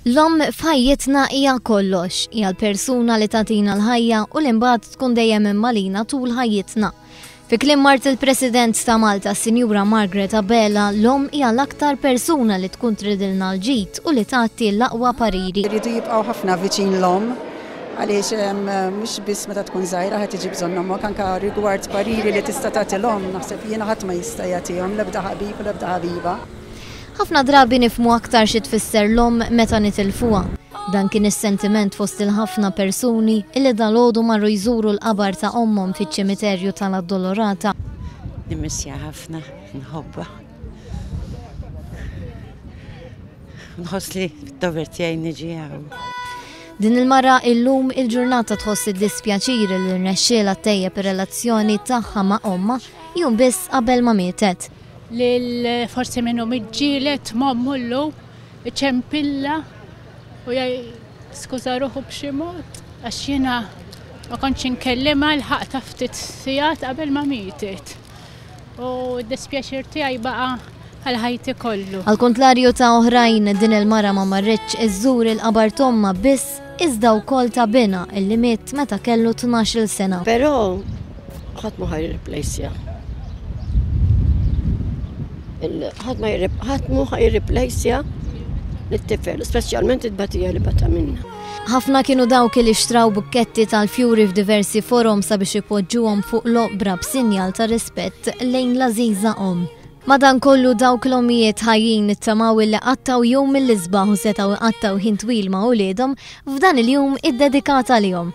L-omm f'ħajjitna hija kollox, hija l-persuna li tatina l-ħajja u l-imbagħad tkun dejjem immalina tul ħajjitna. Fi klim mart il-President ta' Malta, Sinjura Margaret Abela, l-om hija l-aktar persuna li tkun tridilna l-ġid u li tagħti l-aqwa pariri. Iridu jibqgħu ħafna viċin l-om Għaliex mhux biss meta tkun żgħira ħadd iġib bżonn ommok, anke rigward pariri li tista' tagħti l-omm, naħseb jiena ħadd ma jista' jagħtihom, l-ebda ħabib u l-ebda ħabiba. Ħafna drabi nifhmu aktar xi tfisser l-omm meta nitilfuha. Dan kien is-sentiment fost il-ħafna persuni li dalgħodu marru jżuru l-qabar ta' ommhom fiċ-ċimiterju ta' l-Addolorata. Nimmissja ħafna, nħobbha. Nħoss li d-dover tiegħi niġi hawn. Din il-mara illum il-ġurnata tħoss id-dispjaċir li rnexxielha ttejjeb ir-relazzjoni tagħha ma' ommha jum biss qabel ma mietet. Lil forsi minnu miġġielet m'ommu llum iċempilla u skuża ruħu b'xi mod għax jiena ma kontx inkellimha l-ħaqta ftit sigħat qabel ma mietet. u d-dispjaċir tiegħi baqa' għal ħajti kollu. Għal kontlarju ta' oħrajn, din il-mara ma marretx iżżur il-qabar tomma biss iżda wkoll ta' bina illi miet meta kellu 12-il sena. Però ħadd ma ħajriplejsja. Ħadd ma ħadd ħajriplejsja lit-tifel, speċjalment it-batija li bata minna. Ħafna kienu dawk li xtraw bukketti tal-fjuri f'diversi forom sabiex ipoġġuhom fuq l-oqbra b'sinjal ta' rispett lejn l-għażiża om. Madan kollu dawk l-omijiet ħajjin nittamaw illi qattaw jum mill-isbaħ u setaw iqattaw ħin twil ma' uliedhom f'dan il-jum id-dedikat għalihom.